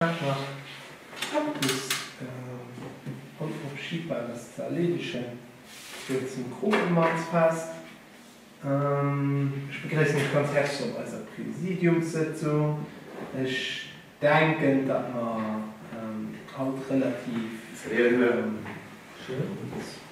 Wat nach eppes Onverschiebbbares ze erleedegen geet zum Kropemannsfest. Ech begréissen iech ganz häerzlech op eiser Präsidiumssëtzung. Ech denken, datt mer haut relativ.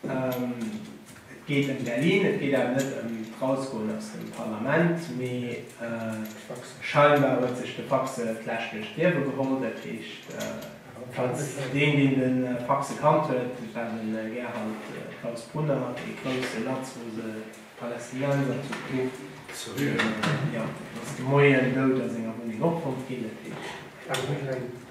Et geet ëm Berlin, et geet awer net ëm d'Rausgoen aus dem Parlament, mee scheinbar huet sech de Faxe d'Läscht duerch d'Liewe geholl. Dat heescht, falls deen, deen de Faxe kannt huet, et war de Gerald Klaus Brunner, dee grousse latzlose Palästinenser zu Kruf, deen ass de Moien dout a senger Wunneng opfonnt ginn. Dat heescht.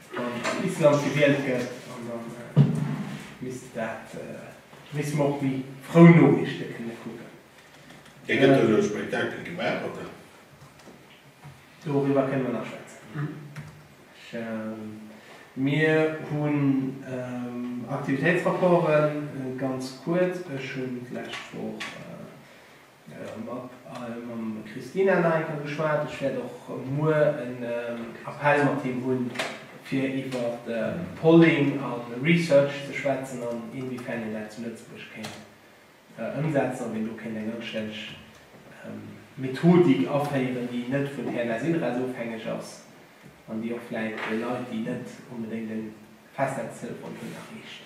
Wann an Island gewielt gëtt, an da misst dat, misst mer och déi frou Noriichte kënne kucken. Et gëtt do e Spektakel gemaach, oder? Doriwwer kënne mer nach schwätzen. Mir hunn Aktivitéitsrapporten, ganz kuerz, ech hunn d'lescht Woch, Mam Christina Naicker geschwat. Ech wäert och muer en Appell mat him hunn, fir iwwer Polling a Research ze schwätzen an inwiefern een dat zu Lëtzebuerg kéint ëmsetzen, ob een do kéint eng anstänneg Methodik aféieren, déi net vun Här Lasilres ofhängeg ass an déi och vläicht de Leit, déi net onbedéngt e Festnetztelefon hunn, erreecht.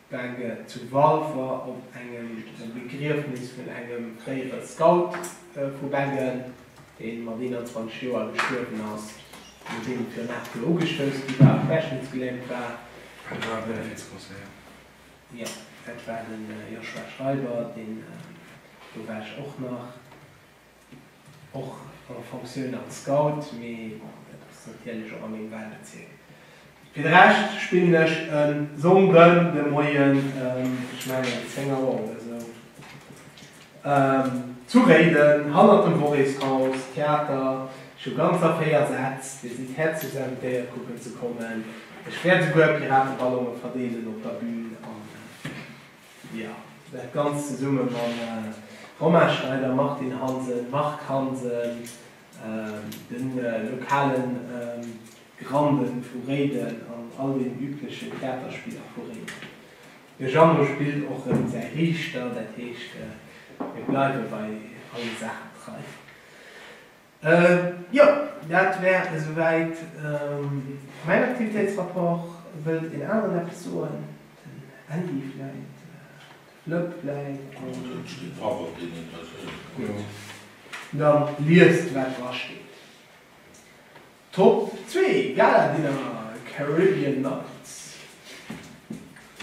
D'Bänke zu Walfer op engem Begriefnis vun engem fréiere Scout vu Bengen, dee mat 21 Joer gestuerwen ass, nodeem et virun 8 Joer ugestouss gi war a querschnittsgelähmt war. Dat war e Benefizconcert. Jo, dat war de Joshua Schreiber, deen do war ech och nach. och an der Fonctioun als Scout, mee dat ass natierlech och a mengem Wahlbezierk. Fir de Rescht spillen ech e Sonndën de Moien, ech mengen ëm 10 Auer oder sou, zu Réiden hannert dem Worréshaus, Theater. Ech hu ganz a 4 Sätz. Dir sidd häerzlechst invitéiert kucken ze kommen. Ech wäert esouguer Pirateballonge verdeelen op der Bühn an Jo, dat Ganzt zesumme mam Romain Schneider, Martine Hansen, Marc Hansen, de lokale Grande vu Réiden an all den übleche Theaterspiller vu Réiden. De Jeannot spillt och rëm säi Riichter, dat heescht mir bleiwe bei alle Saachen trei. Jo, dat wär esouwäit mäin Aktivitéitsrapport. Wëllt een aneren eppes soen? Den Andy vläit? De Flëpp vläit? Et steet dra wat deen interesséiert. Gutt, da liest wat drasteet. Top 2, Gala Dinner Caribbean Nights.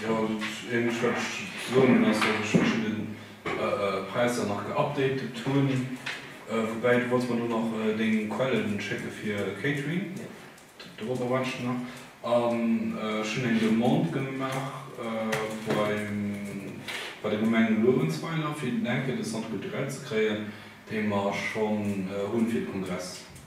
Jo, dat eenzegt wat ech ze soen hunn ass, datt ech mech un den Präisser nach geupdatet hunn. Woubäi, du wollts mer do nach deng Quellen schécken fir Catering, dorobber waarde ech nach. An ech hunn eng Demande gemaach beim, bei der Gemeng Luerenzweiler fir den enke de Centre culturel ze kréien, dee mer schonn hunn fir de Kongress.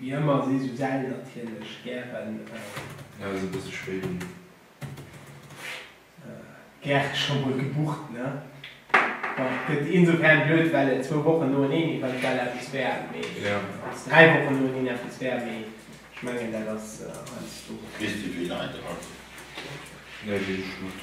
Wéi ëmmer si sou Säll natierlech gären. Ja ass e bësse spéit un. Gären scho mol gebucht ne. Bon et gëtt insofern blöd well et zwou Wochen noeneen eventuell eppes wär mee also dräi Wochen noeneen eppes wär mee ech mengen dat ass heiansdo. Weess de wéi Leit erakommen? Nee weess ech net.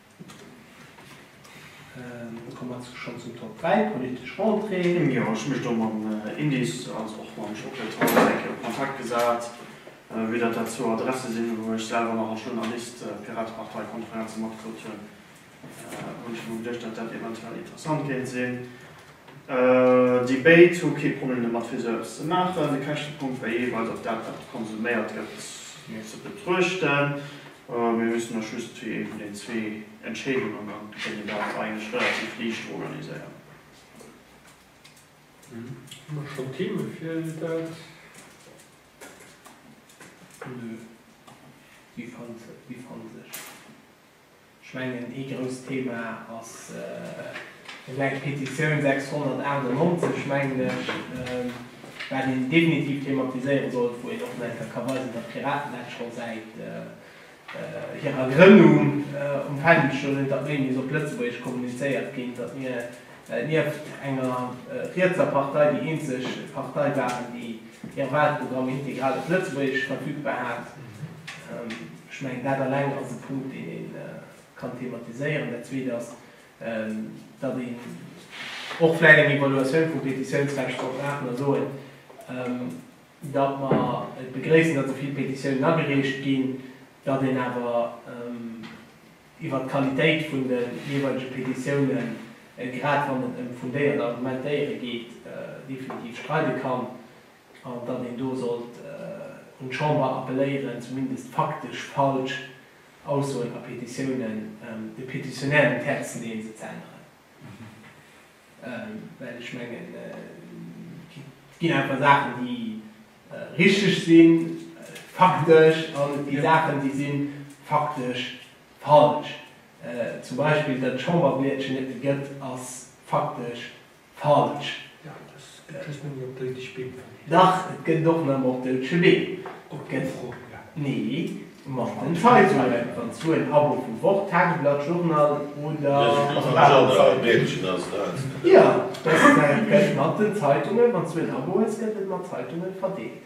Dann komme mer schonn zum Top 3, d'politesch Rentrée. Jo, ech hu mech do mam Indice als och mam Jean-Claude Franck eng Kéier op Kontakt gesat, vue datt dat zwou Adresse sinn, wou ech selwer nach als Journalist d'Piratepartei Konferenze matgekritt hunn, hunn ech mer geduecht, datt dat eventuell interessant kéint sinn. Déi béid hu kee Problem domat, fir esou eppes ze maachen. De Käschtepunkt wär jeeweils, ob dat, wat konsuméiert gëtt, ze betruechten. Mir mussen eis just zu ee vun den zwee Entscheedungen an kënnen dat eigentlech relativ liicht organiséieren. Hu mer schonn Theeme fir dat? Nö, déi fannt sech. Ech mengen ee grousst Theema ass. Eng eng Petitioun 698, mengen ech, wat een definitiv thematiséiere sollt, wou een och nach eng Kéier ka weisen, datt d'Piraten dat scho säit hirer Grënnung um Fändel stoen hunn, datt méi muss op Lëtzebuergesch kommunizéiert ginn, datt mir nieft enger rietser Partei déi eenzeg Partei waren, déi hire Walprogramm integral op Lëtzebuergesch verfügbar hat. Ech mengen, dat eleng ass e Punkt, deen ee kann thematiséieren. Dat Zweet ass, datt een och vläicht eng Evaluatioun vum Petitiounsrecht soll maachen a soen, datt mer et begréissen, datt esou vill Petitiounen agereecht ginn, datt een awer iwwert d'Qualitéit vun de jeeweilege Petitiounen, grad wann et ëm fundéiert Argumentéiere geet, definitiv streide kann an datt een do sollt un d'Chamber appelléieren, zumindest faktesch falsch, Aussoen a Petitiounen de Petitionnaire den Terrain ze leeën, se ze änneren, well ech mengen, et ginn einfach Saachen, déi richteg sinn, faktesch, an et gi Saachen, déi si faktesch falsch. Zum Beispill, datt d'Chamberbliedchen net méi gëtt, ass faktesch Falsch. Ja, et ass, et gëtt just nëmme op doudeg Beem verleet. Dach, et gëtt och nëmme op doudege Beem. Op den Froen, ja. Nee, mat den Zeitungen, wann s du en Abo vu Wort, Tageblatt, Journal oder. Mädchen ass dat. Jo, dat gëtt mat den Zeitungen, wann s du en Abo hues, gëtt et mat Zeitungen verdeelt.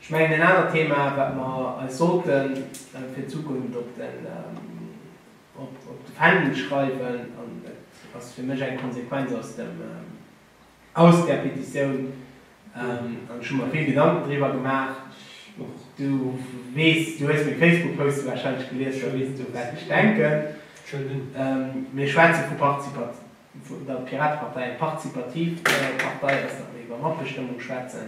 Ech mengen en anert Thema wat mer eis sollte fir d'Zukunft op de Fändel schreiwen, an et ass fir mech eng Konsequenz aus där Petitioun, an ech hu mer vill Gedanken driwwer gemaach, och du weess, du hues meng Facebook-Poste wahrscheinlech gelies, da weess du wat ech denken, mir schwätze vu Participativ, d'Piratepartei, eng participativ Partei ass, datt mer iwwer Matbestëmmung schwätzen,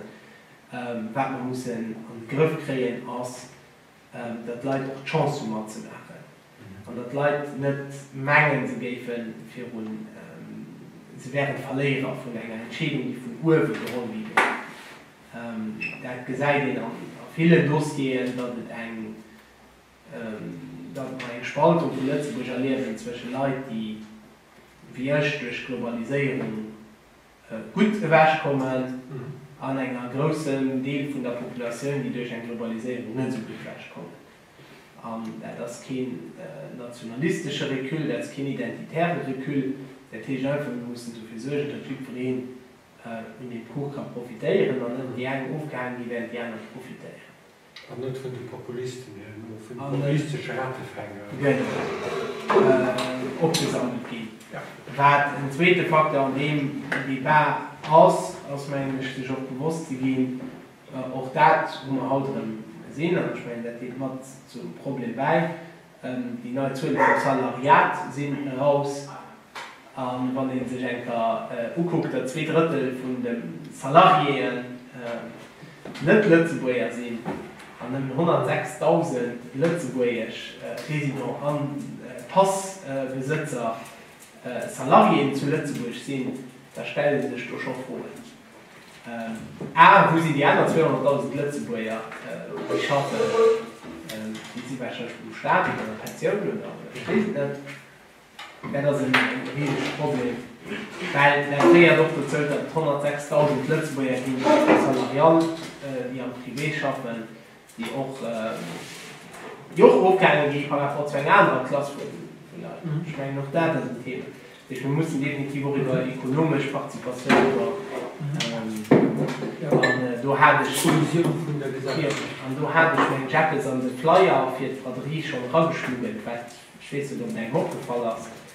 Wat mer mussen an de Grëff kréien, ass, datt d'Leit och d'Chance hu matzemaachen an datt d'Leit net mengen, se géifen virun, se wären d'Verléierer vun enger Entscheedung, déi vun uewe geholl gi wier. Dat gesäit een a villen Dossieren, datt et eng, datt mer eng Spaltung vu Lëtzebuerg erliewen zwësche Leit, déi wéi ech duerch d'Globaliséierung, gutt ewech kommen an enger groussen Deel vun der Populatioun, déi duerch eng Globaliséierung net esou gutt ewech kommen. An dat ass keen nationalistesche Recul, dat ass keen identitäre Recul. Dat heescht einfach, mir mussen dofir suergen, datt jiddwereen vun deem Kuch ka profitéieren an net déi eng ofgehale gi, wärend déi aner profitéieren. An net vun de Populisten hir, mee vun de populistesche Ratefänger. Genau. Opgesammelt ginn. Ja. Wat en zweete Facteur an deem Débat ass, ass, mengen ech, sech och bewosst ze ginn, och dat hu mer haut erëm gesinn, an ech mengen, dat déit mat zum Problem bäi, Déi nei Zuele vum Salariat sinn eraus, a wann ee sech eng Kéier ukuckt, datt zwee Drëttel vun de Salariéeën net Lëtzebuerger sinn an nëmmen 106.000 lëtzebuergesch Résidents a Passbesëtzer Salariéeën zu Lëtzebuerg sinn, da stelle sech do scho Froen. A, Wou sinn déi aner 200.000 Lëtzebuerger, déi schaffen? Ginn si warscheinlech vum Staat oder an der Pensioun oder ech weess et net. Dat ass e risege Problem, well dat féiert och dozou, datt et 106.000 Lëtzebuerger ginn, déi salariant, déi am Privé schaffen. déi och ofgehaange gi par rapport zu enger anerer Klass vun Leit, ech mengen, och dat ass en Thema, dat heescht, mir mussen definitiv och iwwer ekonomesch Participatioun, iwwer, an do hat ech, jo, an do hat ech meng Jackels an de Flyer fir d'Braderie schonn erageschmuggelt, wat, ech weess net, ob et engem opgefall ass,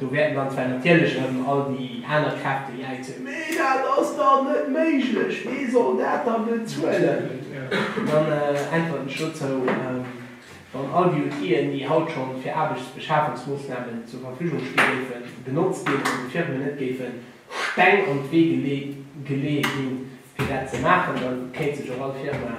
Do wäerten dann zwar natierlech erëm all déi aner Kräfte jäizen, Mee dat ass dach net méiglech, wee soll dat dann bezuelen? An dann äntwert ech dozou, Wann all déi Outill'en, déi haut scho fir Aarbechtsbeschafungsmoossnamen zur Verfügung sti géifen, genotzt ginn an de Firmen net géife Steng an d'Wee geleeë ginn, fir dat ze maachen, da kéint sech och all Firma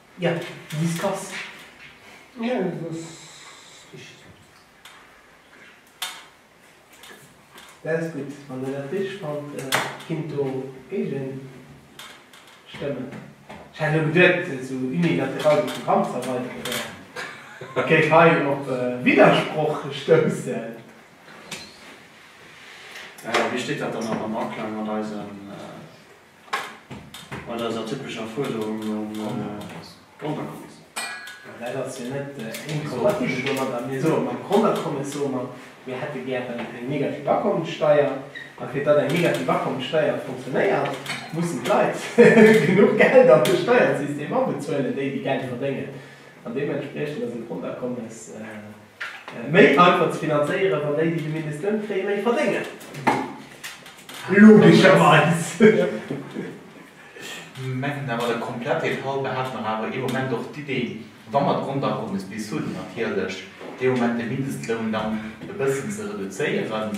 Ja, dis kass. Ja, dat ass richteg. Dat ass gutt. Wann Der dat richteg fannt, kinnt do géigent stëmmen. Ech hat elo geduet, sou unilateral de Programm ze erweideren, da kéint hei op Widdersproch stoussen. Wéi steet dat dann awer am Aklang mat eisen Mat eiser typescher Fuerderung nom Grondakommes. Dat ass jo net inkompatibel domat, datt mir soen, mam Grondakommes soe mer, mir hätte gären eng negativ Akommessteier, a fir datt eng negativ Akommessteier funktionéiert, mussen d'Leit genuch Geld an de Steiersystem abezuelen, déi, déi Geld verdéngen. An deementspriechend ass e Grondakommes. Méi einfach ze finanzéieren, wann déi, déi de Mindestloun kréien, méi verdéngen. Logescherweis. Mengen awer, de komplette Fall behält nach awer ee Moment och d'Idee, wa mer d'Grondakommes bis hunn, natierlech dee Moment de Mindestloun dann e bëssen ze reduzéieren.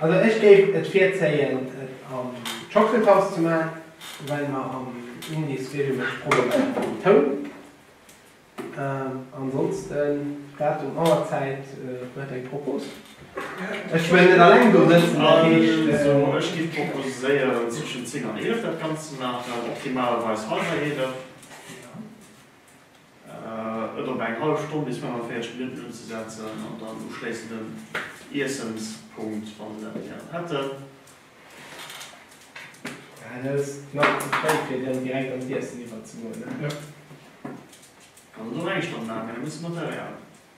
Also ech géif et virzéien et am Chocolate-Haus ze man, well mer am Indies regelméisseg Problemer haten mam Toun. Ansonsten Datum, Auer, Zäit, huet eng Propos? Ech well net alleng do sëtzen, dat heescht. Also ech géif proposéieren zwëschen 10 an 11 dat ganzt ze maachen, optimalerweis halwer 11. et op eng hallef Stonn bis 45 Minutten unzesetzen an dann uschléissend den Iessenspunkt, wann se dat gären hätten. Hei ass et nach ze fréi fir dann direkt an d'Iessen iwwerzegoen. Kann et och eng Stonn man, mee da muss de Material.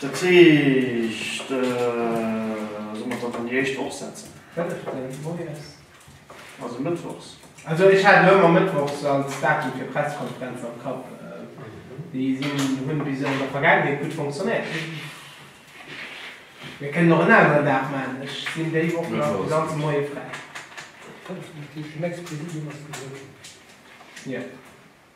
Dat heescht, sollen mer et dann an déi éischt Woch setzen? Also mëttwochs? Also ech hat elo ëmmer mëttwochs als Datum fir Pressekonferenzen am Kapp. Déi hunn bis elo an der Vergaangenheet gutt fonctionnéiert. Mir kënnen och en aneren Dag maachen, ech sinn déi Woch nach de ganze Moie fräi.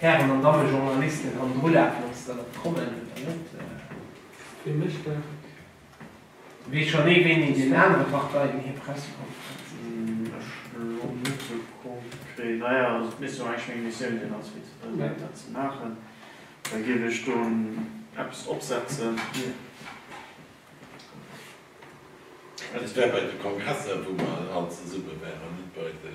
Hären an Damme Journalisten, an drulaafen, ob se dann nach kommen oder net. Wee mécht dat? Weess schonn ee, wéini an deenen anere Parteien hir Pressekonferenz ass? Ech elo net sou konkret. Naja, also et misst jo eigentlech meng Missioun sinn als Vizepresident, dat ze maachen. Da géif ech do eppes opsetzen. Dat wär bei de Kongresser, wou mer all zesumme wären, net bei de.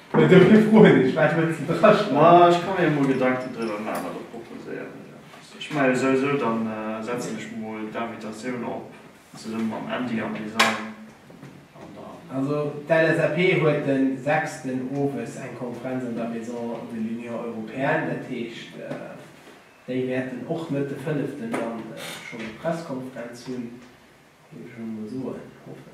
Mee do fir fru hunn ech, wat wëlls de dra schreiwen? Ech ka mir jo mol Gedanken driwwer maachen a der proposéieren ech eppes. Ech maache jo souwisou, da setzen ech mol d'Invitatioun op zesumme mam Andy am Design an da. Also d'LSAP huet de sechsten owes eng Konferenz an der Maison de l'Union européenne, dat heescht déi wäerten och net de fënneften dann schonn eng Presskonferenz hunn, géif ech emol soen, hoffen.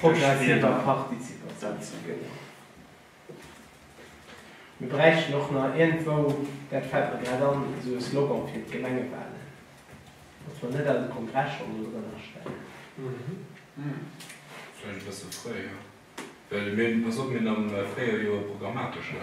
progressiver Partizipatioun ze begéinen. Mir bräichten och nach iergendwou, dat fält mer grad an, esou e Slogan fir d'Gemengewalen, datt mer net eise Kongress schonn do drënner stellen. Vläicht e bësse fréier, well mir hunn, pass op, mir hunn am Fréijoer jo e programmatesche.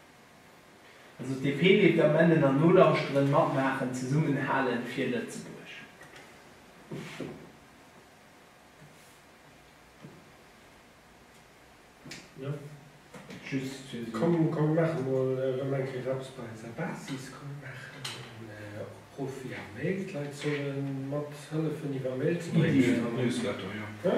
Also d'DP leeft am Ennen an nolauschteren, matmaachen, zesummen halen fir Lëtzebuerg. Jo, just fir esou. Komm komm mir maache mol erëm eng Kéier eppes bei eiser Basis. Komm mir maachen en Opruff via Mail, d'Leit sollen mathëllefen iwwer Mail ze bréngen. Ideen an Newsletter, jo. He?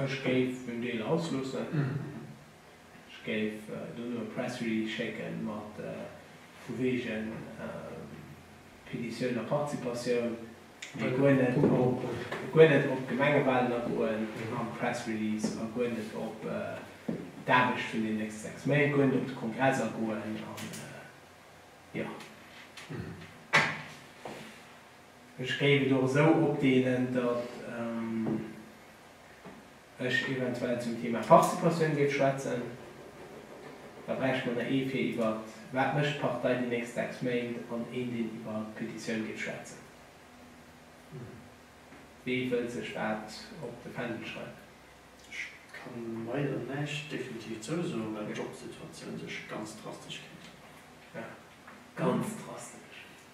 Ech géif en Deel ausloossen. Ech géif dono e Press Release schécke mat vu wegen Petitioun a Participatioun, mee guer net guer net op d'Gemengewalen agoen am Press Release a guer net op d'Aarbecht vun den nächste 6 Méint, guer net op de Kongress agoen an jo. Ech géif et och esou opdeelen, datt ech eventuell zum Thema Participatioun géif schwätzen. Da bräichte mer der ee fir iwwer Wat mécht d'Partei déi nächst sechs Méint? an een, deen iwwer d'Petitioun géif schwätzen. Wee wëllt sech wat op de Fändel schreiwen? Ech ka leider näischt definitiv zousoen, well d'Jobsituatioun sech ganz drastesch geännert huet. Ganz drastesch?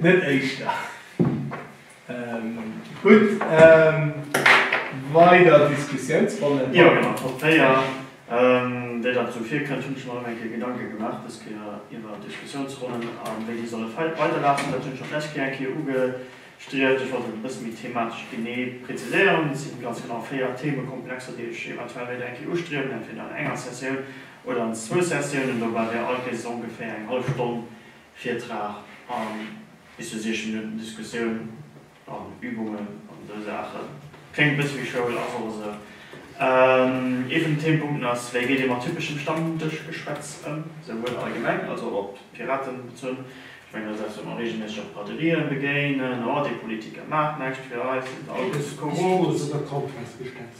Net éischter. Gutt, weider Diskussiounsronnen? Jo, genau, Top 4. Wéi dat esou virkënnt, hunn ech mer erëm eng Kéier Gedanke gemaach, dës Kéier iwwer Diskussiounsronnen a wéi déi solle weiderlafen. Dat hunn ech och d'lescht Kéier eng Kéier ugestrieft. Ech wollt et e bësse méi thematesch genee präziséieren. Et si ganz genau 4 Themekomplexer, déi ech eventuell wéilt eng Kéier ustriewen, entweder an enger Sessioun Oder an zwou Sessiounen, dobäi wär all Kéis ongeféier eng hallef Stonn Virtrag a bis zu 60 Minutten Diskussioun an Übungen an esou Saachen. Kléngt e bësse wéi Schoul, ass och esou. Ee vun den Themepunkten ass, wéi geet ee mat typeschem Stammdëschgeschwätz ëm, souwuel allgemeng als och op d'Piraten bezunn. Ech mengen, dat ass eppes, wat mer reegelméisseg op Braderien begéinen, Oh, dee Politiker maacht näischt fir eis, se sinn all just korrupt.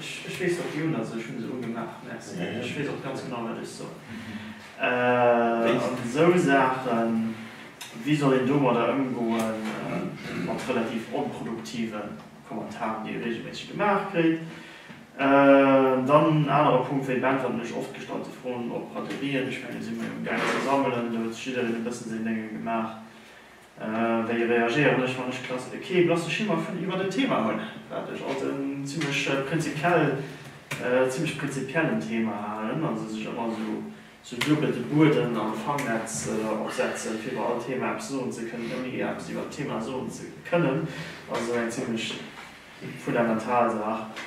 Ech weess wat déi hunn, also ech hunn se ugemaach, merci. Ech weess och ganz genau wat ech soen. An esou Saachen, wéi soll een domadder ëmgoen, mat relativ onproduktive Kommentaren, déi ee reegelméisseg gemaach kréit? Dann en anere Punkt, wéi beäntwerten ech oft gestallte Froen op Braderien? Ech mengen, do si mer jo am gaangen ze sammelen, do huet sech jiddereen e bëssen säin Deng ëm gemaach. Wéi reagéieren ech, wann ech kee blasse Schimmer vun iwwert en Thema hunn, wat ech als en zimmlech prinzipiell, zimmlech prinzipiellen Thema halen, also sech ëmmer esou duebel de Bueden am Fangnetz opsetzen, fir iwwer all Thema eppes soen ze kënnen, ouni ee eppes iwwert d'Thema soen ze kënnen, ass esou eng zimmlech fundamental Saach.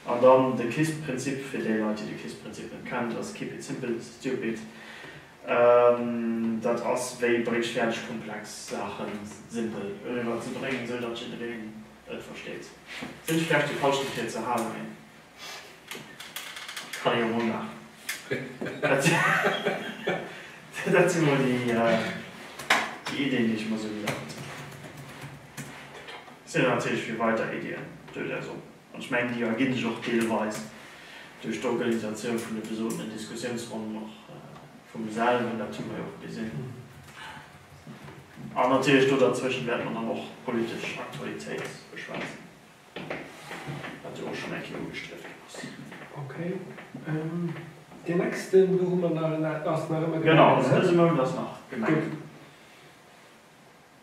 An dann de KISS-Prinzip, fir déi Leit, déi de KISS-Prinzip net kennt, ass keep it simple, stupid. Dat ass wéi bréigsfäerdeg komplex Saache simpel eriwwer ze bréngen, esou datt jiddereen et versteet. Sinn ech vläicht de Falschen fir et ze halen? Mee et kann ee jo mol maachen. Dat si mol déi Iddien, déi ech mol esou gesammelt hunn. Sinn natierlech fir weider Iddien, duerch äis oppen. An ech mengen, déi erginn sech och deelweis duerch d'Organisatioun vun de besotenen Diskussiounsronnen, och vu mir selwen, dat hu mer jo och gesinn. An natierlech do derzwëschen wäerte mer dann och d'politesch Aktualitéit beschwätzen, wat jo och schonn eng Kéier ugestriff ginn ass. Okay. Deen nächsten, do hu mer nach en, ass nach ëmmer Gemengen, ne? Genau, also dëse Mount ass nach Gemengen. Gutt.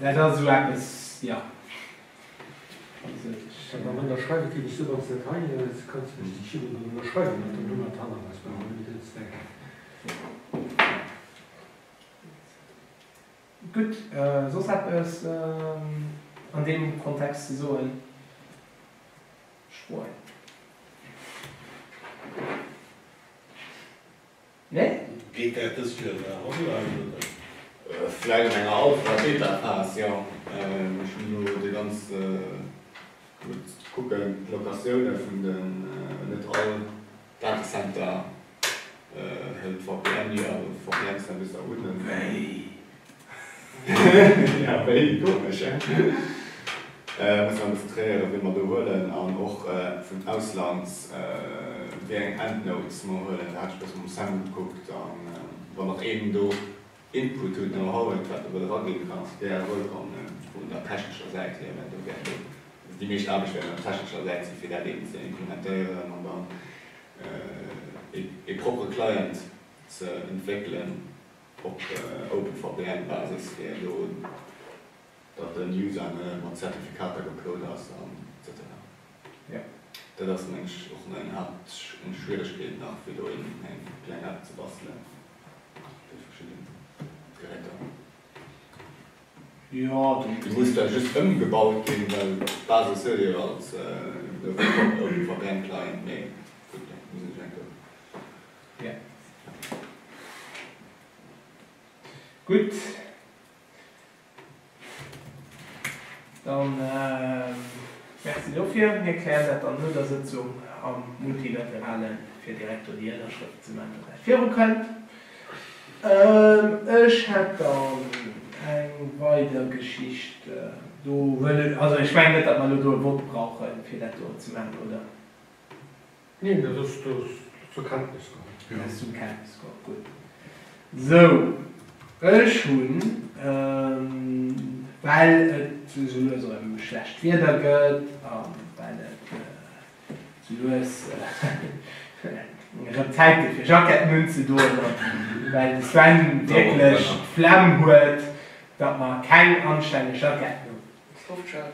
Dat ass esou eppes, jo. Mä wann Der schreift, et géif ech sou ganz net heieren, et kann zum Beispill d'China drun ënnerschreiwen, an dann hu mer d'Hand am Haus, brauche mer net eens denken. Gutt, soss eppes an deem Kontext ze soen? Spueren. Nee? Geet dat dës Joer nach online, oder? Vläit an enger Alpha-, Beta-Phas, jo. Ech hunn elo de ganze Mount ze kucken, d'Locatioune vun den, net all Datacenter hëlt VPN, jo, VPN-Servicer un. Wéi? Ja, wéi komesch, hä? Muss mer elo zitréieren, wien mer do huelen an och vun Ausland wéi eng Endnotes mer huelen. Da hat ech e bëssen mam Sam gekuckt an wann nach een do Input hutt, Know-how huet, wat e wëll eraginn, kann ass gär wëllkomm vun der technescher Säit hier, well do wäert een, also déi meescht Aarbecht wäert op der technescher Säit sinn, fir dat eben ze implementéieren an dann ee proppere Client ze entwéckelen. Op Open VPN Basis virdoen, datt den User net mat Zertifikater geplot ass etc. Jo, dat ass mengen ech och meng Haapt Schwieregkeet nach fir do een eng kleng App ze bastelen fir verschidden Geräter. Jo, déi muss da just ëmgebaut ginn, well d'Basis huet jo als Open VPN Client, mee gutt, dat muss een ech enke. Ja. Gutt. Dann Merci dofir. Mir klären dat dann no der Sëtzung am Multilateralen, fir direkt do déi Ënnerschrëft ze man, datt dat virukënnt. Ech hätt dann eng weider Geschicht do. Wëll, also ech mengen net, datt mer elo do e Vott brauchen, fir dat do ze man, oder? Neen, dat ass do zur Kenntnis komm. Dat ass zur Kenntnis komm, gutt. Sou, ech hunn, well et sou lues erëm schlecht Wieder gëtt a well et sou lues erëm Zäit gëtt fir Jacketten unzedoen a well de Sven wierklech d'Flemm huet, datt mer keng anstänneg Jacketten hunn,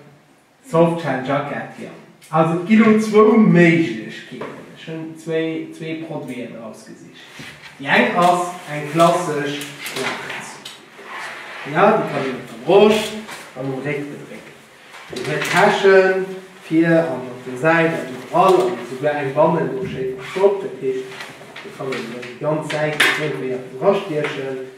Softshell Jacket, jo. Also et gi lo zwou Méiglechkeeten. Ech hunn zwéi, zwéi Produiten erausgesicht. Déi eng ass eng klassesch schwaarz. Ja, déi kann een op der Broscht an um Réck bedrécken. Déi huet Täschen vir an op de Säiten an iwwerall an esouguer eng bannen do schéi verstoppt. Dat heescht, do kann een elo déi ganz Säite fréi wéi och drastiechen.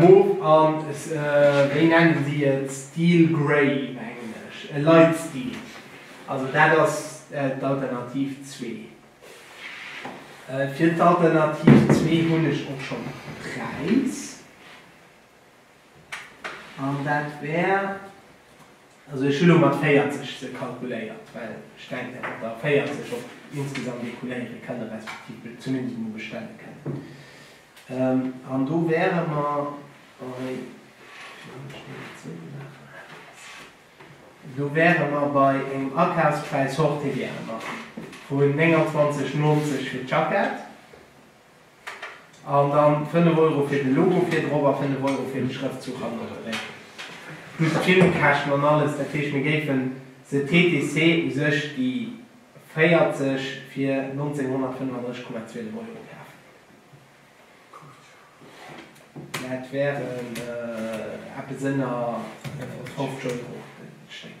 Mof an wéi nennen si et, Steel Grey op Englesch, e Light Steel, also dat ass d'Alternativ zwee. Fir d'Alternativ zwee hunn ech och schonn e Präis an dat wär. Also ech hu lo mat 40 se kalkuléiert, well ech denken, datt mer der 40 op insgesamt écouléiere kënnen, respektiv zumindest emol bestelle kënnen. An do wäere mer bei, lass mech déi emol zoumaachen, do wäere mer bei engem Akafspräis hors TVA vun 29,90 fir d'Jackett. An dann 5 Euro fir de Logo vir drop a 5 Euro fir de Schrëftzuch hanne dréck. Plus Gymkäschten an alles. Dat heescht mir géifen se TTC u sech déi 40 fir 1935 Komma zwee de Moien kaafen. Dat wären eppes ënner 50 Euro den Stéck.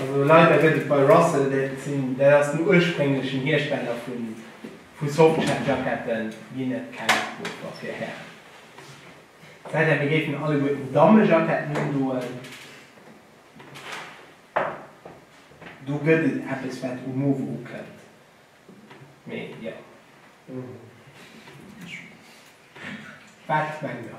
Also leider gëtt et bei Russell, dat ass den ursprénglechen Hiersteller vu Softshell-Jacketten, ginn et keng Afdrucker fir Hären. Et säi denn, mir géifen alleguerten Dammejacketten undoen. Do gëtt et eppes, wat um Movo ukënnt. Mee jo. Wat mengt der?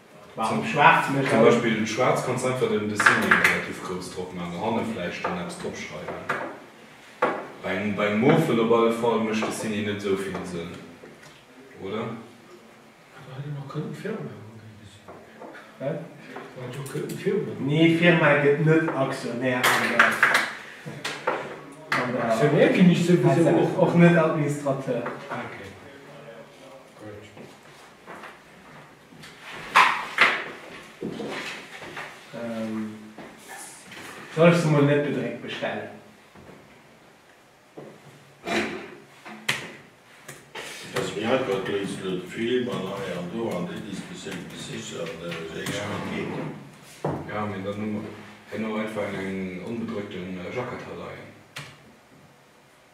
Zum Beispill schwaarz kanns einfach den Dessinée relativ grouss drop man an hanne vläicht dann eppes drop schreiwen. Bei engem Mofen op alle Fall mécht Dessinée net esou vill Sënn, oder? Nee, Firma gëtt net Aktionär an der Parzellfinanzéierung, och net Administrateur. Soll ech se mol net bedréckt bestellen? Dass mir hei grad do is wëll d'Film an hei an do an déi Diskussioun bis sich an Réicht net geet. Jo, mee dann hu mer herno einfach eng onbedréckten Jackett hei leien.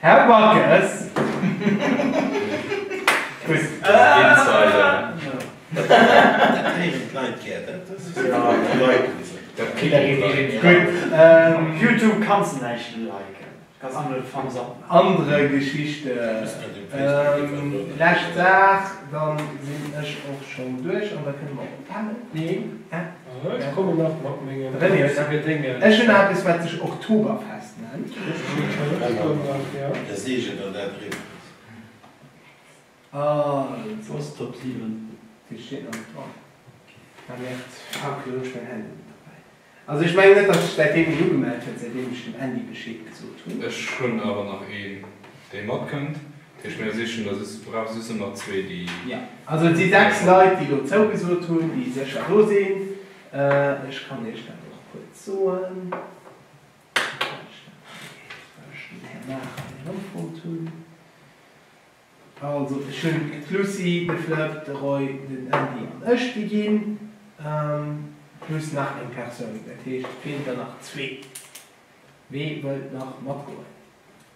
Här Backes! Youtube kanns de näischt liken. Anere Geschichte. Lescht Dag, dann sinn ech och schonn duerch an da kënne mer och pennen. Ech kommen nach mat mengen fleissege Déngen. Ech hunn eppes, wat sech Oktoberfest nennt. Also ech mengen net, datt sech säitdeem een ugemellt huet, säitdeem ech dem Andy Bescheed gesot hunn. Ech hunn awer nach een, dee matkënnt. Tisch mär sichen der sissen brauch sissen nach zwee déi jo also et si 6 Leit déi lo zougesot hunn déi sécher do sinn ech kann iech dat och kuerz soen well ech den Här Maacher hei erëmfonnt hunn also ech hunn d'Lucie de Flëpp de Roy den Andy an ech déi ginn plus nach eng Persoun dat heescht et feelt der nach zwee wee wëllt nach matgoen?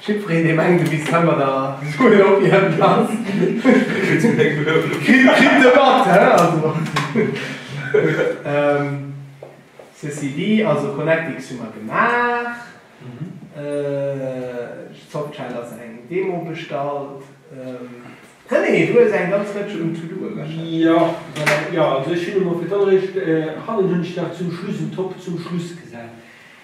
Jiddwereen dee mengt de Miss Temmer der Joel op hierem Platz kritt e mat hein also ceci dit also Connectix hu mer gemaach Softshell ass eng Demo bestallt René du hues eng ganz Rëtsch un To-Do ewechhält. Jo jo also ech hunn emol fir d'alleréischt hannen hunn ech nach zum Schluss en Top zum Schluss gesat.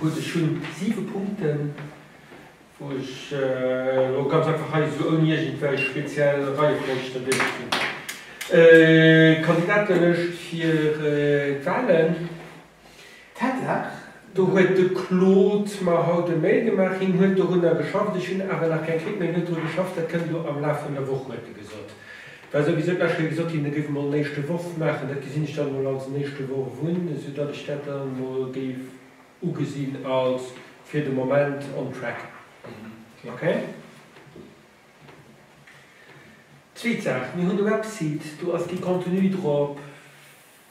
Gutt, ech hunn siwe Punkten, wou ech elo ganz einfach hei esou ouni iergendwei speziell Reiefolg der Dénge ginn. D'Kandidatenlëscht fir d'Wahlen, Tatsaach, do huet de Claude mer haut e Mail gemaach, hien huet dorunner geschafft, ech hunn awer nach keng Kritt, mä hien huet dru geschafft, dat kënnt elo am Laf vun der Woch, huet e gesot. Well esou wéi soubal ech hei gesot hunn, e géif emol en éischte Worf maachen, dat gesinn ech dann emol als en éischte Worf un, esou datt ech dat dann emol géif ugesinn als fir de Moment on track. Okay. Zweet Saach, mir hunn e Website, do ass kee Contenu drop.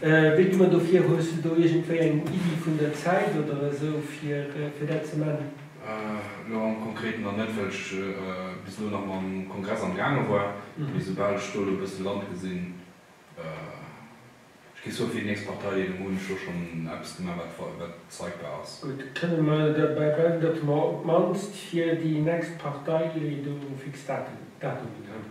Wéi du mer dofir? Hues du do iergendwéi eng Iddi vun der Zäit oder esou fir dat ze man? Lo am Konkreten nach net, well ech bis elo nach mam Kongress am gaange war. Mee soubal ech do lo e bësse Land gesinn, ech gi soe fir déi nächst Partei deelen, hunn ech lo schonn eppes gemaach wat zeigbar ass. Gutt, kënne mer derbäi bleiwen, datt mer op d'mannst fir déi nächst Partei do fix Datumen hunn?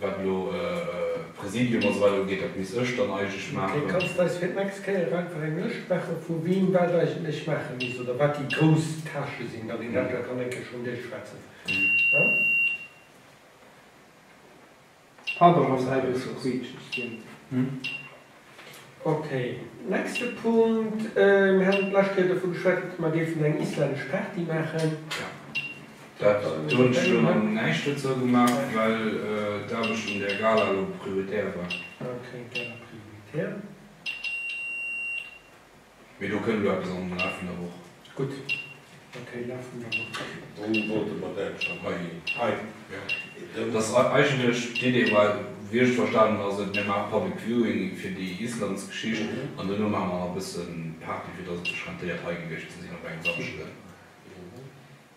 Wat elo Präsidium a sou weider ugeet, dat misst ech dann eigentlech maachen. Okay, kanns de eis fir d'nächst Kéier einfach eng Lëscht maachen, vu wien wat eigentlech maache misst oder wat déi grouss Tâchë sinn, datt een dat da kann eng Kéier schon duerchschwätzen, haa? Pardon, dass ech hei e bësse quiitscheg ginn. Ok, nächste Punkt. Mir haten d'lescht Kéier dovu geschwätzt, dass mer géifen eng islännesch Party maachen. Jo, dat hunn ech elo nach näischt dozou gemaach, well d'Aarbecht un där Gala elo prioritär war. Ok, Gala prioritär. Mee do kënn elo eppes am Laf vun der Woch. Gutt, ok, Laf vun der Woch. Wou wollte mer dat schonn? Hei, hei, jo. Dass eigentlech d'Idee war, wéi ech et verstanen ass et, mir maache Public Viewing fir déi Islands-Geschicht an duerno maache mer nach e bësse Party, fir dass et sech rentéiert hei gewiescht ze sinn op engem Samschden.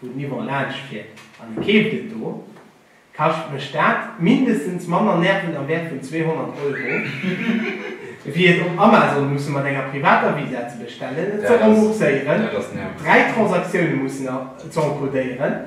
wou den Yvon laanscht fiert an e keeft et do, kascht mech dat mindestens manner Nerven am Wäert vun 200 Euro, ewéi et op Amazon musse mat enger privater Visa ze bestellen, et ze rembourséieren, dräi Transaktioune mussen ze enkodéieren.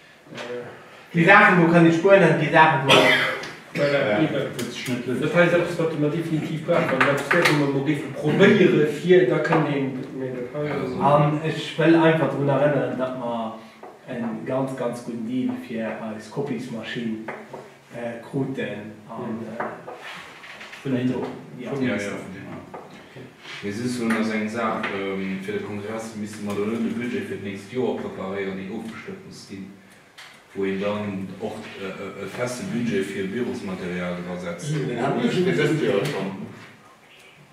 Déi Saachen do kënnt ee spuenen, déi Saachen do net. An ech wëll einfach drun erënneren, datt mer e ganz, ganz gudden Deal fir eis Copiesmaschinn. kruten an vun den do vum Minister. Mee soss hunn, ass eng Saach fir de Kongress, misste mer elo de Budget fir d'nächst Joer preparéieren, deen ofgestëmmt muss ginn, wou een dann och e feste Budget fir Bürosmaterial dra setzt. Deen hat ee jo fir dëst Joer schonn.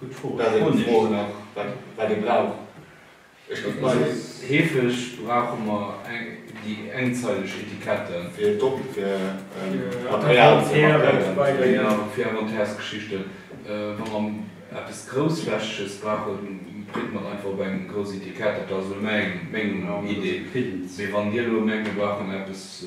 Gutt Fro. Dat ass eng Fro nach, wat ee brauch. Ech géif mol. Heefeg brauche mer déi engzeileg Etiketten. Fir doppelt, fir Material ze markéieren. Genau, fir Inventairsgeschichten. Wa mer eppes Groussflächeges brauchen, printe mer et einfach op eng grouss Etikett. Dat ass elo meng Idee. Mee wann Dir elo mengt, mir brauchen eppes.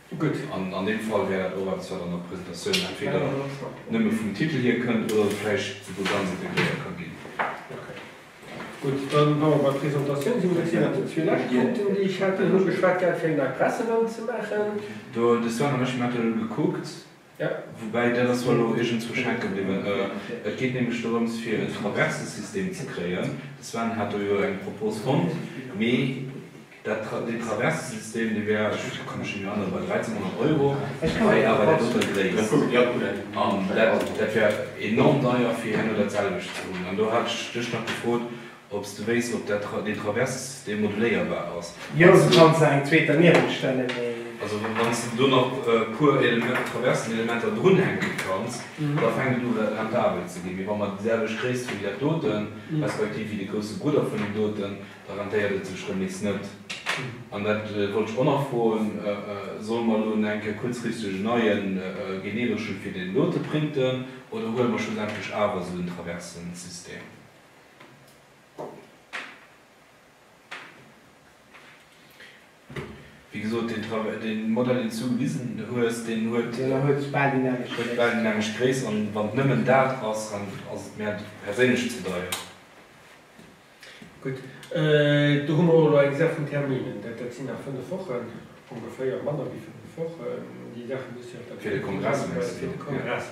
Gutt, an an deem Fall wär dat och eppes, wat an der Presentatioun entweder nëmme vum Titel hier kënnt oder vläicht souguer ganz integréiert ka ginn. Okay. Gutt, da wa mer bei Presentatioun sinn, dat sinn awer déi zwee lescht Punkten, déi ech hat. Dir hutt ugeschwat gehat, fir eng Nei Presserunn ze maachen. Do, de Sven an ech, mir haten elo gekuckt, Woubäi, dat ass mer elo iergendswou schenke bliwwen, et geet nämlech dorëms, fir e Traversesystem ze kréien. De Sven hat do jo eng Propos fonnt, mee dat, deen Traversesystem, dee wär, ech ka mech nemmi erënnere, bei 1.300 Euro, wei awer dat doten gréisst. An dat, dat wär enorm deier, fir herno datselwecht ze hunn. An do hat ech dech nach gefrot, Ob s de wéisst, ob dat den Traverse demoduléierbar ass? Jo, du kanns der eng zweet derniewent stellen, mee. Also wann s de do nach e puer Element, Traversenelementer drunhänken kanns, da fänkt et u rentabel ze ginn. Mee wa mer déi selwecht Gréisst hu wéi dat doten, respektiv wéi de grousse Brudder vun deem doten, da rentéiert et sech erëm nees net. An dat wollt ech och nach froen, Solle mer elo en eng Kéier kuerzfristeg en neie genereschen fir deen dote printen, oder huele mer schlussendlech awer esou en Traversensystem? Wéi gesot, deen Travail, dee Modell, deen s du gewisen hues, deen huet, huet bal déi nämmeg Gréisst. An wann et nëmmen dat ass, dann ass et mär perséinlech ze deier. Gutt, do hu mer och elo eng Saach vun Terminen. Dat sinn nach fënnef Wochen, ongeféier, manner wéi fënnef Wochen. Déi Saache muss jo. Fir de Kongress, mengs du? Fir de Kongress.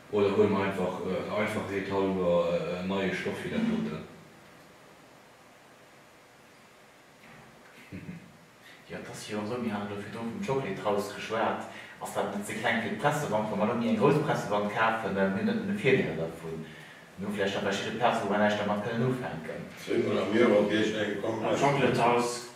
Oder huele mer einfach, der Einfachheet halwer, en neie Stoff fir dat doten. Jo, et ass jo esou, mir haten elo virdru vum Chocolate House geschwat, ass dat net ze kleng fir d'Pressewand? Wa mer elo méi eng grouss Pressewand kafen, dann hunn net nëmme Virdeeler dovun. Mir hu vläicht nach verschidde Plazen, wou mer näischt dermat kënnen ufänken. Zwéi vun der Mierorgierch, eng komplett. Am Chocolate House.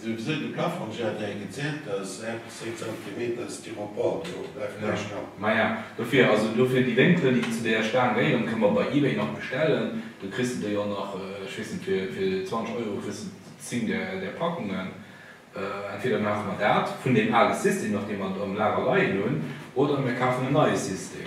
Souwisou de Plafong, si hat hei gezielt, dat ass 6 Zentimeter Styropor do, bleift näischt dran. Maja, dofir, also dofir déi Wénkelen, déi zu deeër Staang gehéieren, kënne mer bei eBay nach bestellen. Do kriss de déi jo nach, ech weess net, fir 20 Euro kriss de 10 där Packungen. Entweder maache mer dat vun deem ale System nach, dee mer am Lager leien hunn, oder mir kafen en neie System.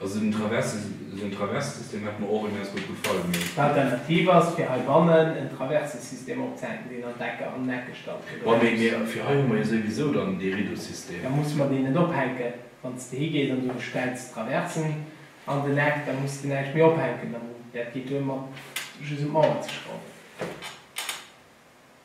Also den Traverse, esou en Traverse-System hätt mer och immens gutt gefall, mee. D'Alternativ ass, fir heibannen en Traverse-System opzehänken, deen an d'Ecker an den Eck gestallt gëtt, oder? Wa, mee fir hei hu mer jo souwisou dann dee Rideau-System. Da musse mer deen net ophänken. Wann s de higees an du bestells d'Traversen an den Eck, da muss de näischt méi ophänken. Dat geet duer, mat just un d'Mauer ze schrauwen.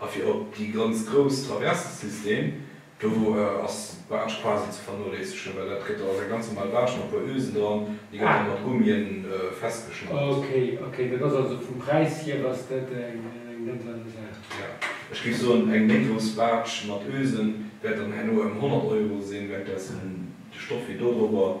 A fir op déi ganz grouss Traverse System, do ass d'Baatsch quasi ze vernoléissegen, well dat gëtt, ass eng ganz normal Baatsch mat puer Ösen dran, déi gëtt dann mat Gummien festgeschnallt. Ok, ok, dat ass also vum Präis hier ass dat eng nettlere Saach. Ja, ech géif soen, eng méi grouss Baatsch mat Ösen wäert dann herno em 100 Euro sinn, während dessen de Stoff hier dodrobber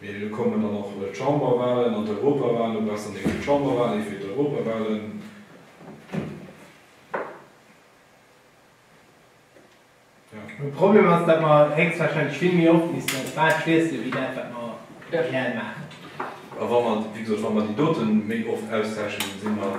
Mee elo kommen dann och d'Chamberwahlen an d'Europawahlen, lo besser néng fir d'Chamberwahlen, ee fir d'Europawahlen. De Problem ass, datt mer héchstwahrscheinlech vill méi oft missten eis Bal schliesse wéi dat, wat mer reell maachen. A wa mer, wéi gesot, wa mer déi doten méi oft austauschen, da si mer,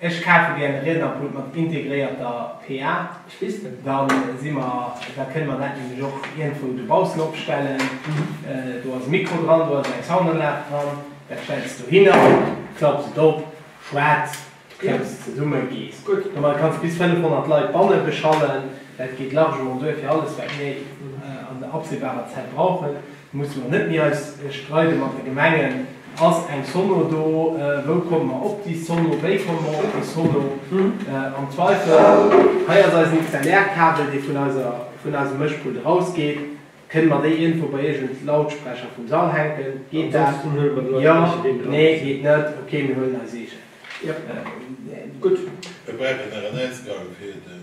Ech kafe gär de Riednerpult mat integréierter PA. Spiste. Da si mer, da kënne mer dat nämlech och iergendwou dobaussen opstellen. Do ass e Mikro dran, do ass eng Soundanlag dran. Dat stells de dohinner, klapps et op, schwätz, klemms zesummen, gees. Gutt. Domat kanns de bis 500 Leit banne beschallen. Dat geet largement duer fir alles, wat mir an der absehbarer Zäit brauchen. Musse mer net méi eis streide mat de Gemengen, ass eng Sono do, wou komme mer op déi Sono, wéi komme mer op déi Sono? Am Zweifel, hei ass eisen XLR-Kabel, dee vun eiser, vun eisem Mëschpult erausgeet, kënne mer déi iergendwou bei iergend Lautsprecher vum Sall hänken? Geet dat? Jo, nee, geet net, okay, mir huelen eis eegen. Gutt. Mir brauchen nach en Ausgang fir den.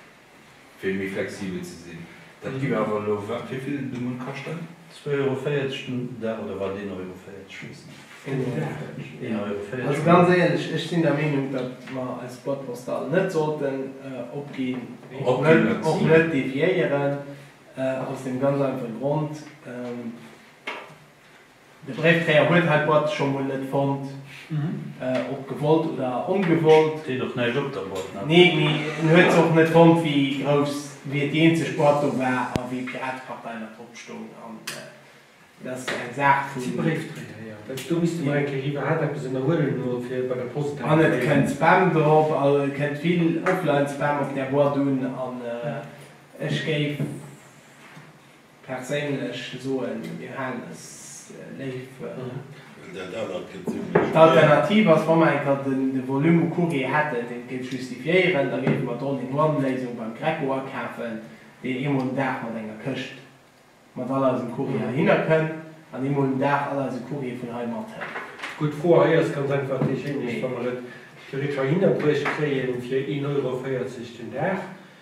fir méi flexibel ze sinn. Dat gi mir awer elo wat fir vill de Munn kaschten? Zwee Euro 40 den Dag oder wat? Een Euro 40, ech weess net. Een Euro 40, een Euro 40. Also ganz éierlech, ech sinn der Meenung, datt mer eis Boîte postale net sollten opginn, och net deviéieren, aus deem ganz einfache Grond, De Bréifdréier huet hei d'Boîte scho mol net fonnt, ob gewollt oder ongewollt. Steet och näischt op der Boîte, ne? Nee, mee en huet se och net fonnt, wéi grouss wéi et déi eenzeg Boîte do war a wéi Piratepartei nach drop stoung. An dat ass eng Saach vun. Bréifdréier, jo. Dach, do misst de mol eng Kéier iwwer hat eppes ënnerhuelen elo, fir bei der Post dat. An et kënnt Spam drop, a et kënnt vill Offline-Spam op där Boîte un. An ech géif. Perséinlech soen, mir halen es léif. D'Alternativ ass, wa mer eng Kéier de Volume u Courrier hätten, deen d'géif justifiéieren, da géife mer d'All-in-one-Léisung beim Greco akafen, deen eemol den Dag mat enger Këscht mat all eisem Courrier heihinner kënn an eemol den Dag all eise Courrier vun hei mathélt. Gutt Fro. Hei ass ganz einfach déi Chénglecht, wa mer et theoretesch heihinner bruecht kréien fir een Euro véierzeg den Dag,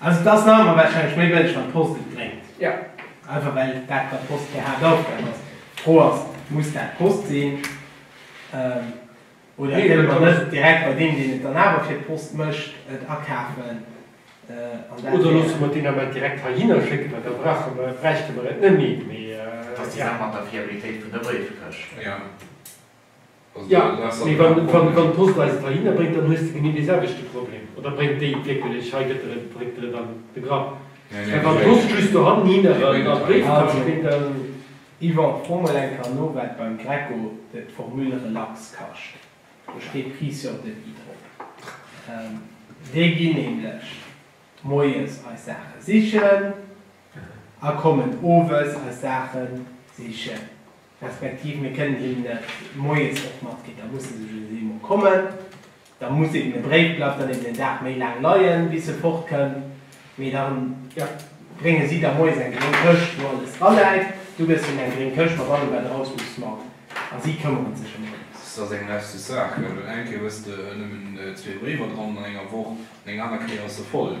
Also et ass nach ëmmer warscheinlech méi bëlleg wann d'Post et bréngt. Einfach well dat bei d'Post keng Haaptaufgab ass. D'Fro ass, muss dat d'Post sinn? Oder kënne mer net direkt bei deem, deen et dann awer fir d'Post mécht, et akafen? Oder loosse mer d'Dinger mat direkt heihinner schécken, well da brauche mer, bräichte mer et net méi. Dat ass déi Saach mat der Fiabilitéit vun der Bréifkëscht. Jo, mee wann d'Post eis et heihinner bréngt, dann hues de genee dee selwechte Problem. Oder bréngt déi et wierkelech hei, gëtt der et, dréckt der et an de Grapp. Mä wann d'Post just dohinner an de Bréifkascht bréngt, dann. Yvan, fro mol eng Kéier no, wat beim Greco de Formule relax kascht. Do steet Prix sur devis drop. Déi ginn nämlech moies eis Saache sichen a kommen owes eis Saache sichen. Respektiv mir kënnen hinnen dat moies och matginn. Da musse se just eemol kommen. Da muss eben e Bréif, bleift dann eben en Dag méi laang leien, bis e fortkënn. Mee da brénge si der moies eng gréng Këscht, wou alles draläit. Du gëss hinnen eng gréng Këscht mat allem, wat e raushusse mag. A si këmmere sech ëm alles. S, Ass eng leschte Saach, gell. Well eng Kéier hues de nëmmen zwee Bréiwer dran an enger Woch an eng aner Kéier ass se voll.